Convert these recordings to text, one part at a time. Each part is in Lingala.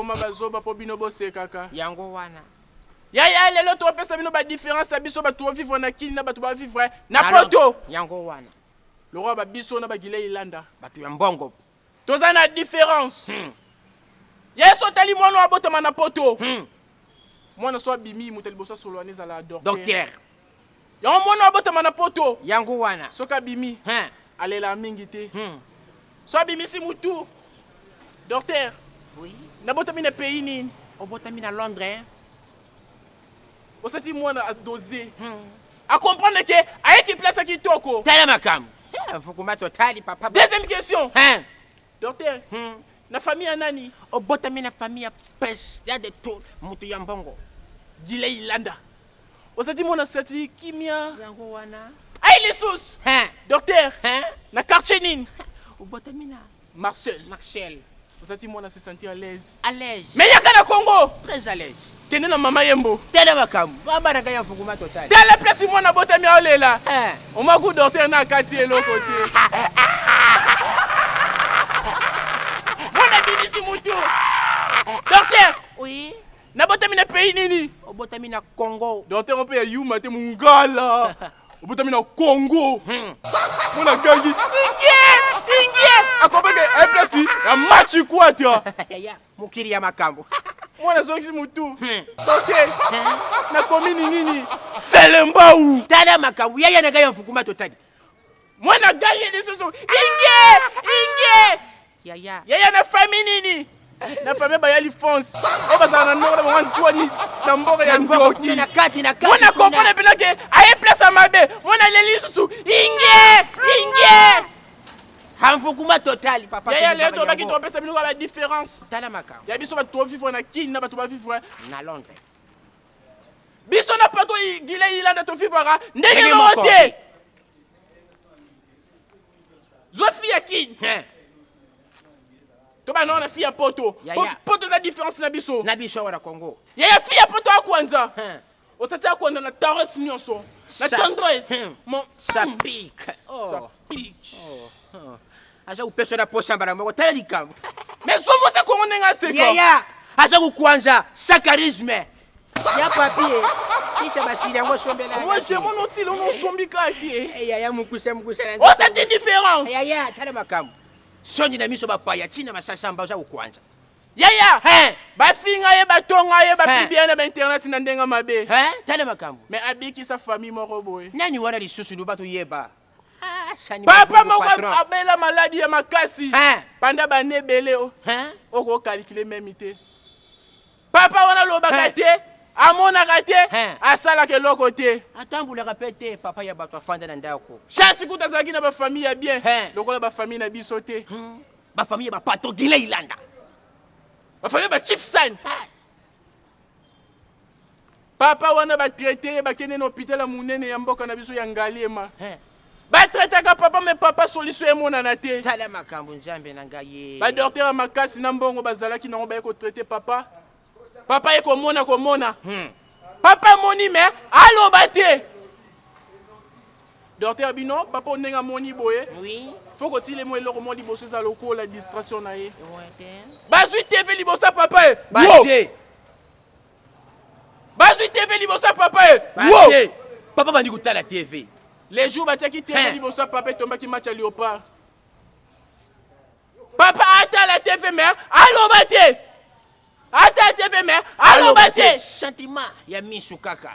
bokoma bazoba mpo bino bosekaka yango wana yaya lelo topesa bino badifference ya biso bato bovivre na kini na bato bavivre na poto yango wana lokola babiso na bagilei landa bato ya mbongo Toza na difference. Hmm. Yesu atali mwana wa botama na poto. Hmm. Mwana so abimi moto liboso solo ane zala docteur. Docteur. Yango mwana wa botama na poto. Yango wana. Soki abimi. Hein. Alela mingi te. Hmm. So abimisi mutu. Docteur. Oui. Nabotami na pays nini? Obotami na Londres. Hein? osati mwana adose hmm. akomprendre ke ayeki place ya kitoko tala makambo mfukumati otali papa deuxième question hein? docteur hmm. na famille ya nani obotami na famille ya pres ya de tout moto ya mbongo gilei landa osati mwana sati kimia yango wana ai lisusu docteur na quartier nini obotami na Marcel. Marcel. Ozati mwana se sentir à l'aise. À l'aise. Mais yaka na Congo. Très à l'aise. Kende na mama yembo. Tala makambo. Baba na kaya fukuma total. Tala place mwana bota mi aolela. Eh. Oma ku docteur na kati eloko te. Mwana bibisi mutu. Docteur. Oui. nabotami na pays nini obotami na congo docteur mpe ya yuma te mungala obotami na congo hmm. mona gangi ingie ingie akobenge eplasi eh, ya machi kwata mokili ya makambo mwana azongisi motu hmm. oke hmm. na komini nini selembau tala makambo yaya na ngai ya mfukuma totali mwana gangi lisusu ingie ingie Yaya. Yaya na famille nini? na famille baya lifonse oyo bazala na ndongo na bango ntwani na mboka ya ndoki mona kokona bino ke aye place ya mabe mona aleli lisusu inge inge hanfukuma total papa yaya leo tobaki topesa bino ba différence tala makambo ya biso bato tovivre na kini na bato bavivre na londres biso na poto gile ilanda tovivraka ndenge moko te zwa fille ya kin eh. tobana wana fille ya poto poto eza différence na biso na biso awa na congo yaya fille ya poto akwanza eh. osati akwanza na tares nyonso na tendresse eh. mon sapik hmm. oh. sapik oh. oh. aza kopesa na posa mbala moko tala likambo mais zomosa kongo ndenge aseka yaya aza kokwanza sakarisme ya papie kisha basili yango osombela wesh yango notila ono osombi kaka te eh, yaya mokuse mokuse osati oh, différence yaya tala makambo songi na miso bapaya ntina masasamba oza kokwanza yaya bafinga ye batonga ye bapibiana na bainternet na ndenge mabe tala makambo me abikisa famille moko boye nani wana lisusu loba toyeba ah, papa moko abela maladi ya makasi panda bane ebele okokalikile memi te papa wana alobaka te amonaka te asalaka eloko te atambolaka mpe te papa ya bato afanda na ndako chance kuta azalaki na bafamille ya bien lokola bafamille na biso te hmm. bafamille ya bapato gile ilanda bafamille ya bachief sani Papa wana ba traite ye bakende na hopital ya munene ya mboka na biso ya Ngaliema. He. Ba traitaka papa me papa solution emonana te. Tala makambo nzambe na ngai ye. Ba docteur ya makasi na mbongo bazalaki nango baye ko traite papa. Papa ye komona komona. Hmm. Papa moni me aloba te. Docteur bino papa ndenge amoni boye. Oui. Faut kotile mo eloko mo liboso eza lokola distraction na ye. Bazwi TV liboso papa ye. Baze. bazwi tv liboso ya papa ye Batie. papa bandi kotala tv le jour batiaki tv Hein. liboso ya papa etombaki match ya leopard papa atala tv mer aloba te atala tv mer aloba te sentiment ya miso kaka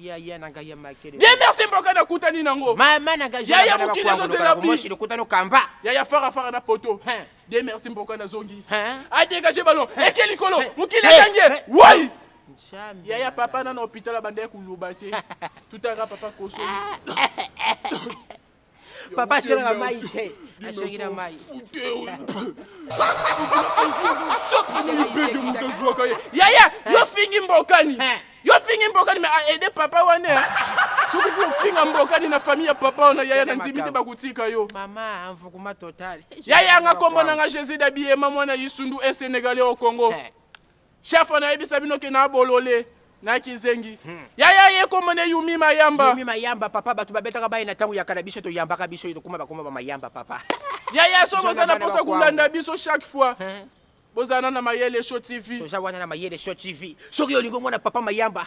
yaya na ngai ya makele ye merci mboka nakutani nango mama na ngai yaya mokili ezozela bimoshi lokutani okamba yaya fara fara na poto de merci mboka nazongi adegage ballon eke likolo mokili akangi ye wai yaya papa nana hôpital abanda ya koloba te tutaka papa kosoli Papa asengi na mai te. Asengi na mai. Yaya, yo fingi mbokani. Yo fingi mbokani mais a aider papa wana. Soki tu finga mbokani na famille ya papa wana yaya na ndimi te bakutika yo. Mama mvukuma total. Yaya nga kombo na nga Jésus Dabiema mwana Isundu e Sénégalais au Congo. Chef on a yebisa bino ke na bolole na kizengi hmm. yaya ye kombo ne yumi mayamba yumi mayamba papa bato babetaka baye na ntango ya kala biso toyambaka biso ye tokoma bakoma bamayamba papa yaya so boza na mposa kolanda biso chaque fois hmm. bozana na mayele show tv toza wana na mayele show tv soki olingi omona papa mayamba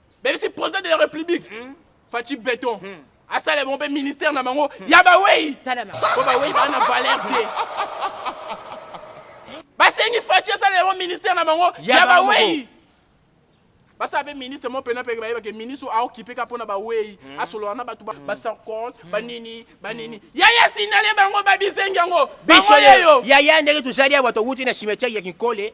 bebisi president de la république hmm? faci beton hmm. asala bango mpe ministère na bango hmm. ya bawei mpo bawei baa na valeur te basengi faci asala yango ministère na bango ya bawei basala mpe ministre mo mpena mpe bayebake ministre oyo aokipe ka mpo na bawei asolola na bato basarcont banini banini yaya sinale bango babisengi yango biso yeyo yaya ndenge tozali awa towuti na cimetière ya kinkole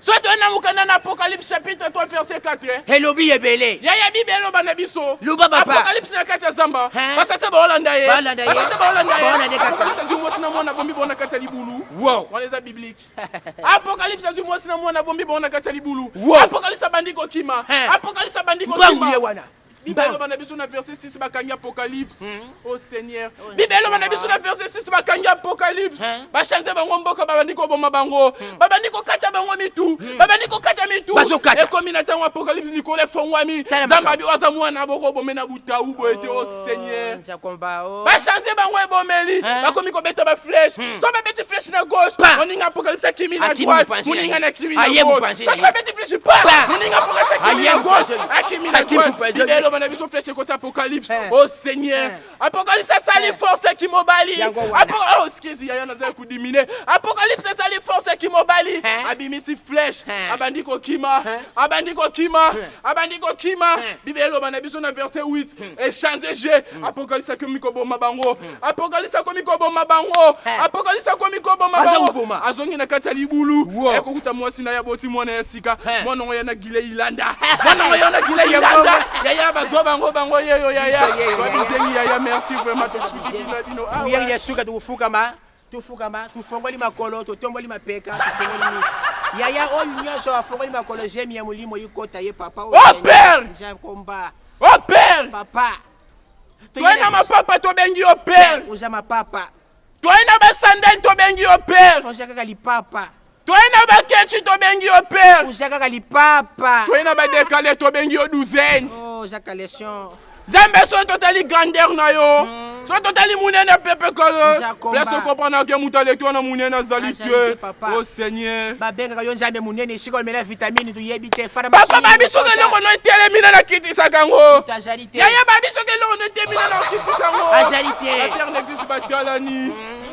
soki toye na mokanda na apocalypse chapitre 3 verset 4 elobi ebele yaya bible eloba na biso luba papa apocalypse na kati ya zamba basase baolanda ye basase baolanda ye apocalypse azwi mwasi na mwana bombi bango na kati ya libulu wow. wana eza biblique apocalypse azwi mwasi na mwana bombi bango na kati ya libulu wow. apocalypse abandi kokima apocalypse abandi kokima wana Bible eloba na biso na verset 6 bakangi apocalypse hmm. oh seigneur oh, bible eloba na biso na verset 6 bakangi apocalypse hmm. bachanze bango mboka babandi koboma bango hmm. babandi kokata bango mitu babandi kokata mitu ekomi na ntango apocalypse likolo efongwami nzambe abi oyo aza mwana bokobome na butau boye te o oh, oh, seigneur Oh. bachange bango ebomeli eh? bakomi kobeta bafleshe hmm. so babeti fleshe na gauche moninga apokalipsa kimi na droite moninga na kimi na gauche soki babeti fleshe pa moninga apokalipsa kimi na gauche akimi na droite bibele eloba na biso fleshe ekoti apokalipse eh. o oh, seigneur eh. apokalipse asali force kimobali oh, excuse yaya nazali kodimine apokalipse asali force kimobali abimisi fleshe abandi kokima abandi kokima abandi kokima hmm. biblia eloba na biso na verse 8 hmm. echange je hmm. apokalisa akomi koboma bango apokalisa akomi koboma bango apokalisa akomi koboma bango azongi na kati ya libulu ekokuta mwasi na ye aboti mwana ya sika mwana yango ya na gile ilanda mwana yango ya na gile ilanda yaya bazwa bango bango yeyo yaya babizengi yaya merci vraiment tosuki bino bino awa ya suka tokufukama tofukama tofongoli makolo totomboli mapeka tofongoli miso yaya oyo nyonso afongoli makolo zemi ya molimo ikota ye papa nkomba oh, pere papa toye na mapapa tobengi yo pere oza mapapa toye na basandale tobengi yo pere oza kaka lipapa toye na bakechi tobengi yo pere oza kaka lipapa toye na badekale tobengi yo douzaine oh, oza kalation nzambe soki totali grandeur na yo mm. soki totali monene pepe kala place okomprendre ke moto aleki wana monene azali te o oh, seigneur babengaka yo nzambe monene esika omela vitamine toyebi te papa babi soki eloko no etelemi na nakitisaka yango yaya babi soki eloko no etelemi na nakitisaka yango azali te aser neglise batalani mm.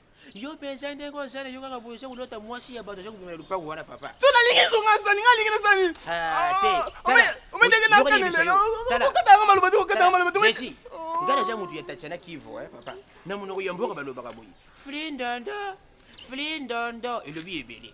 Yo penza ndenge ozala yo kaka boye soki olota mwasi ya bato aza kobima na lopango wana papa. So nalingi zonga sani nga lingi na sani. Ah te. Ah, Ome ndenge na kana lelo. Okata nga maloba te okata nga maloba te. Jesi. Oh. Nga naza moto ya Tatiana Kivu eh papa. Na monoko ya mboka balobaka boye. Flindondo. Flindondo elobi ebele.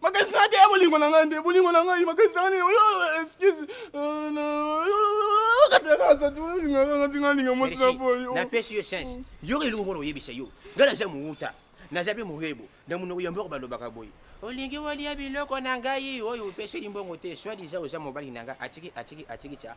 makanisi na te ya bolingo na ngai nde bolingo na ngai makanisi na ngai oyo excuse napesi yo sense yo elingo mona oyebisa yo ngai naza mowuta naza mpe mohebo na monoko ya mboko balobaka boye olingi olia biloko na ngai oyo opeseli mbongo te swadiza oza mobali na ngai atiki atiki atiki tya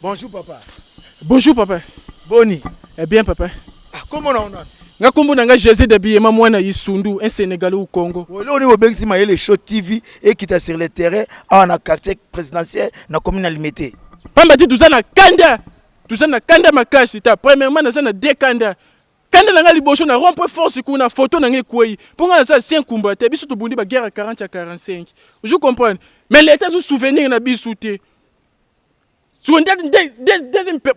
Bonjour papa. Bonjour papa. Boni. Eh bien papa. Ah, comment on a nga kombo na nga José de Biyema mwana Isundu un Sénégalais au Congo. Leo ni bobengisi Mayele Show TV ekita sur le terrain awa na quartier présidentiel na commune Limete. Pamba te toza na kanda toza na kanda makasi ta premièrement naza na deux kanda kanda na nga liboso na rompre force kuna photo na nga ekwei mpo nga naza ancien kumba te biso tobundi baguerre ya 40 ya 45 je comprendre mais leta azosouvenir na biso te Sikoyo nde nde nde deuxième pe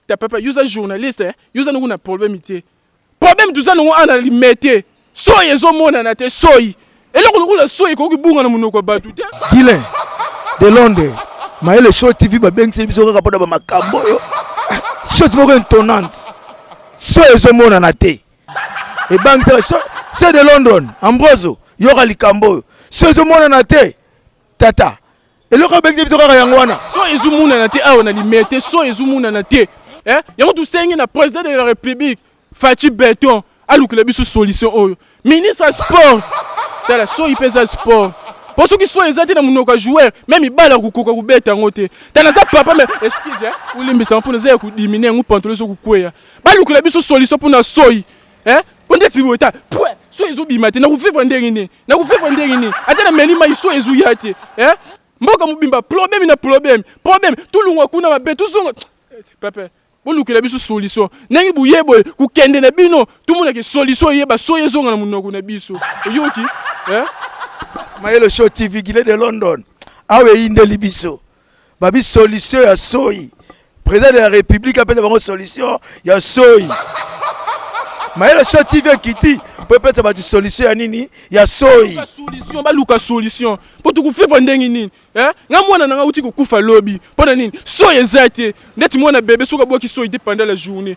ta papa yoza journaliste eh? yoza nango na problème te problème toza nango ana limete soyi ezomonana te soyi eloko lokola soyi ekoki bunga na monoko ya bato te gilen de londres mayele show tv babengisi biso kaka mpona bamakambo oyo shot moko intonnante so ezomonana te ebangisa se de london ambroso yoka likambo oyo so ezomonana te tata eloko obengisi biso kaka yango wana so ezomonana te awa na limete te so ezomonana te eh? yango tosengi na président de la république faci beton alukela biso solution oyo ministre ya sport tala soyi mpe eza sport mpo soki soyi eza te na monoko ya joueur me mibale akokoka kobeta yango te tala naza papa me excuse eh? olimbisama mpo naza ya kodimine yango pantolo ezokokweya balukela biso solution mpo na soyi eh po ndeti boye ta pwe so ezobima te nakofebra ndenge nini nakofebra ndenge nini ata na meli mai so ezoya te eh mboka mobimba problème na problème problème tolongwa kuna mabe tozonga eh, pepe bolukela biso solution ndenge boye boye kokende na bino tomonake solution eyeba soyi ezonga na monoko na biso oyoki eh? mayelo show tv gile de london awa eyindeli biso babi solution ya soyi président de la république apesa bango solution ya soyi mayele sho tv ekiti mpo epesa bato solution ya nini ya soyi solution baluka solution mpo tokufeva ndenge nini eh? nga mwana na nga uti kokufa lobi mpo na nini soyi eza te ndeti mwana bebe soki abwaki soyi te pendant la journée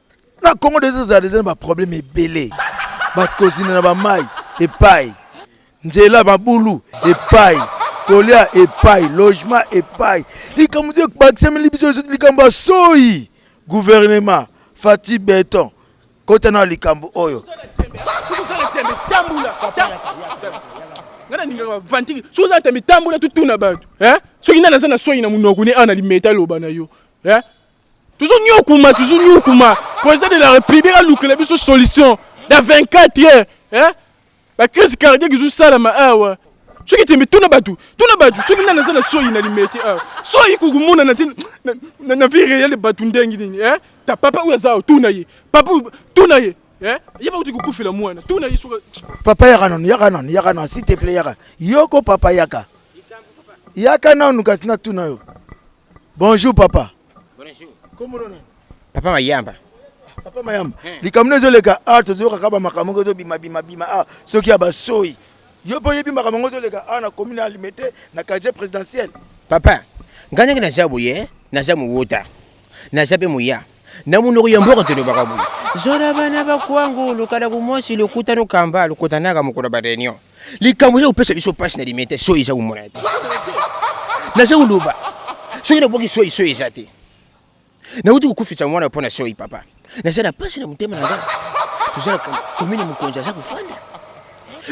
na congo deja tozala deja na baproblème ebele bato kozina na bamai epai nzela mabulu epai kolia epai logement epai likambo te bakisameli biso likambo ya soyi gouvernement fati beton kota na likambo oyo nga nalingaka vantiki soki oza na tambi tambola tutuna bato soki nani aza na soyi na monoko ne awa na limeta loba na yo Toujours nyokuma, toujours nyokuma. Président de la République a loukele biso solution dans 24 heures. Hein? La crise cardiaque qui joue ça là, ma ah ouais. soki tembe tuna bato tuna bato soki nani aza na soyi na limete awa soyi kokomona na te na vie réelle bato ndenge nini eh? ta papa oyo aza awa tuna ye papa oyo tuna ye eh? ye bakuti kokufela mwana tuna ye soki papa yaka nanu yaka nanu yaka nanu s'il te plaît yaka yoko papa yaka yaka nanu kasi natuna yo Bonjour papa. Bonjour. Comment on est? Papa Mayamba. Ah, papa Mayamba. Hein. Likambo ezo leka ah tozo yoka kaba makambo ezo bima bima bima ah soki ya basoyi. Yo po yebi makambo ezo leka ah na commune ya Limete na quartier présidentiel. Papa, nganya na jabu ye, na jamu wota. Na jabe muya. na munoko ya mboka tolobaka boye zola bana bakwangu lokala kumwasi lokuta lokamba lokutanaka mokolo ba reunion likambo eza kopesa biso mpasi na limete te soyi eza komona te naza koloba soki naboki soyi soyi eza te nauti kokufisa mwana mpo na soyi papa naza na mpasi na motema na ngai tozala komini mokonzi aza kofanda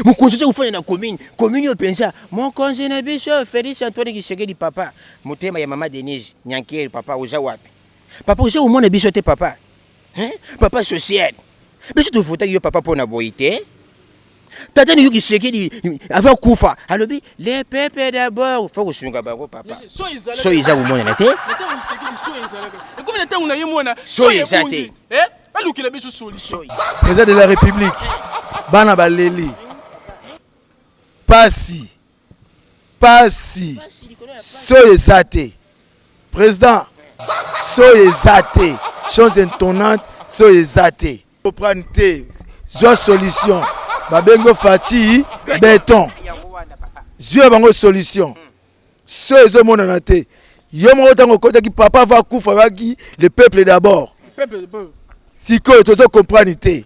mokonzi aza kofanda na komini komini oyo mpenza mokonzi na biso félix antoine kisekedi papa motema ya mama denise nyankeri papa oza wapi Papa oza komona biso te papa. Hein? Papa social. Biso tofutaki yo papa pona boyi te. Tata ni yuki sekedi avant kufa alobi les peuples d'abord faut kosunga bango papa. So iza komonana te. Ekomi na ntango na ye mwana so eza te. Eh? Alukela biso solution. Président de la République bana baleli pasi pasi soyo eza te président soyo eza te chose intonnante soyo eza te oprane te zwa solution babengo faci beton zwi ya bango solution soyo ezomonana te yo moko ntango okotaki papa va kufa yaki le peuple d'abord sikoyo tozo comprendre te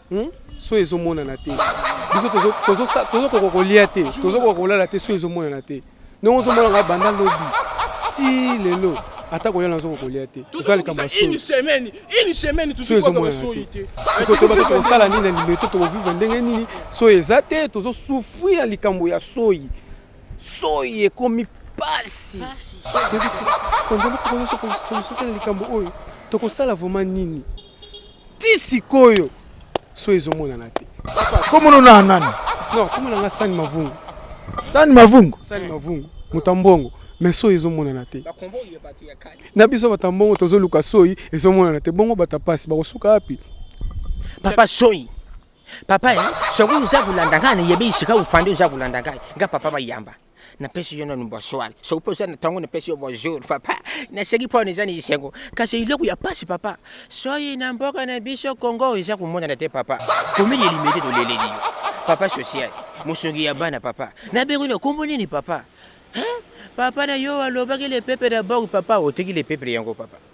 Hmm? so ezomonana te biso tozokoka kolia te tozokoka kolala te so ezomonana te ndenge ozomona ngai banda lobi ti lelo ata kolia nazokoka kolia te eza likambo kosala nini na limeto tokovivre ndenge nini so eza te tozosufri ya likambo ya soyi soyi ekomi pasi konzela kokoyosokolisokela likambo oyo tokosala vraimen nini ti sikoyo so ezomonana te komono na nani non komona nga sani mavungu sani mavungu sani mavungu moto ya mbongo mais soyi ezomonana te na biso bato ya mbongo tozoluka soyi ezomonana te bongo bato ya mpasi bakosuka wapi papa soyi papa eh, soki oza kolanda ngai nayebi esika ofandi oza kolanda ngai nga papa bayamba napesi yo nanu bonsoir soki mpe oza na ntango napesi yo bonjour papa naseki mpo wana eza na esengo kasi eloko ya mpasi papa soyi na mboka na biso congo eza komonana te papa komeli elimete toleleli yo papa social mosungi ya bana papa nabengi na nkombo nini papa papa na yo alobaki lepepe na bango papa oteki lepepe yango papa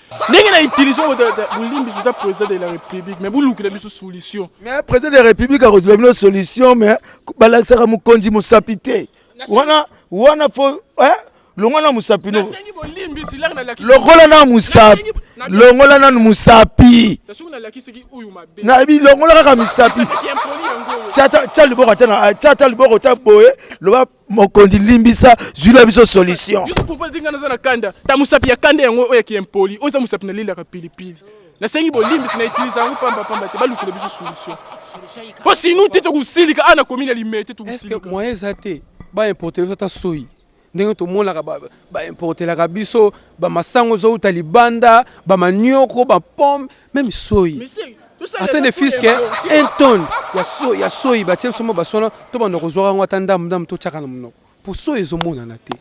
ndenge na utilise bolimbisi oza président de la république mais bolukela biso solution mais président de la république akozwa bino solution mais balakisaka mokonzi mosapi te wana wana fo eh? longola na mosapi no longola na mosapi longola nanu mosapi nayebi longola kaka misapi tia liboko ata liboko ta boye loba mokonzi limbisa zwila biso solution yo sokopa te ngai naza na kanda ta mosapi ya kanda yango oyo ya kiempoli oyo eza mosapi nalelaka pilipili nasengi bolimbisi na utilize yango pamba pamba te balukela biso solution mpo sinu te tokosilika awa na komi na limee te tokosilika moyen eza te baimporte biso ata soyi ndenge tomonaka baimportelaka biso bamasango ezowuta libanda bamanioko bapome meme soyi ata ne fiske un tonne ya soyi batie biso mwa basona tobanda kozwaka yango ata ndambu ndambu totyaka na monoko mpo soyi ezomonana te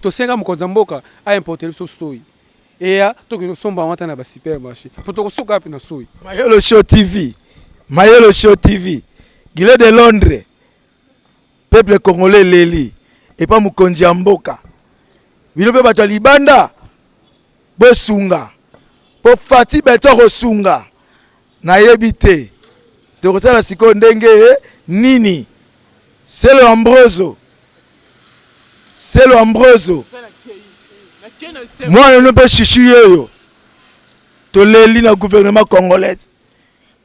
tosenga mokonzi ya mboka aimporte biso soyi eya tokoki kosomba yango ata na basupermarché mpo tokosuka wapi na soyi mayolo show tv mayolo show tv gile de londres Peuple congolais eleli epa mokonzi ya mboka. Bino mpe bato ya libanda bosunga mpo Fati Beto akosunga. Nayebi te tokosala sikoyo ndenge eh, nini. Selo Ambroso, Selo Ambroso, mwana no mpe shishi yeyo, toleli na gouvernement congolais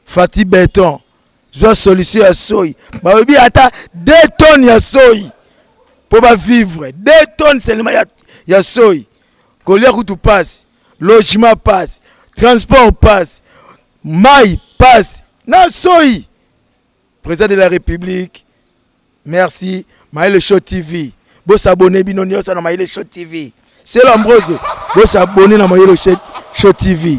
Fati Beton. zwa solution ya soyi balobi ata 2 tonnes ya soyi mpo bavivre 2 tonnes selema ya, ya soyi kolia kutu pasi logement pasi transport pasi mai pasi na soyi président de la république merci maele show tv bosabone bino nyonso na maele show tv selo ambrose bosabone na maele show tv